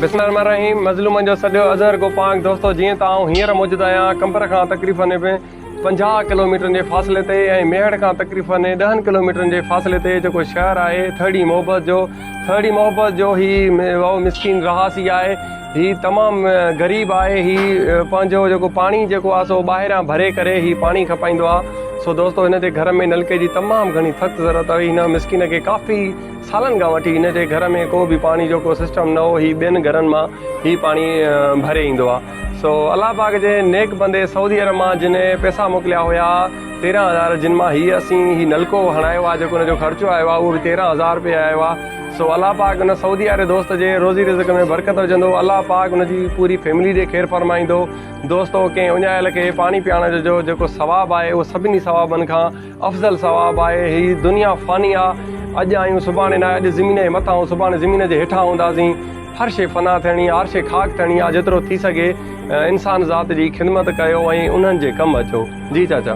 بسم الله الرحمن الرحيم مظلومن جو سڏيو اظهر گو پانگ دوستو جيئن ته آئون هينئر موجود آهيان قمبر کان تقريبن پنجاهه ڪلوميٽرن جي فاصلي تي ۽ ميهڙ کان تقريبن ڏهن ڪلوميٽرن جي فاصلي تي جيڪو شهر آهي ٿرڙي محبت جو ٿرڙي محبت جو هي مسڪين رهاسي آهي هي تمام غريب آهي هي پنهنجو جيڪو پاڻي جيڪو آهي سو ٻاهران ڀري ڪري هي پاڻي کپائيندو آهي سو دوستو هن جي گهر ۾ نلڪي جي تمام گهڻي سخت ضرورت آهي هن مسڪين کي ڪافي سالن کان وٺي هن جي گهر ۾ ڪو به پاڻي جو ڪو سسٽم نه هو هي ٻين گهرن مان هي پاڻي ڀري ايندو آ سو الله پاڪ جي نيڪ بندي سعودي عرب مان جنهن پيسا موڪليا هيا تيرهن هزار جن مان هي اسين هي نلڪو هڻايو آ جيڪو ان جو خرچو آيو آ اهو به تيرهن هزار روپيه آيو آ سو الله پاڪ ان سعودي واري دوست جي روزي رزق ۾ برڪت وجهندو الله پاڪ ان جي پوري فيملي جي خير فرمائيندو دوستو ڪنهن اڃايل کي پاڻي پيارڻ جو جيڪو ثواب آهي اهو سڀني ثوابن کان افضل ثواب آهي هي دنيا فاني آ اڄ آهيون سڀاڻي ناهي اڄ زمين جي مٿان ۽ سڀاڻي زمين جي هيٺان هونداسين هر شي فنا ٿيڻي آ هر شي خاڪ ٿيڻي آ جيترو ٿي سگهي انسان ذات جي خدمت ڪيو ۽ انهن جي ڪم اچو جي چاچا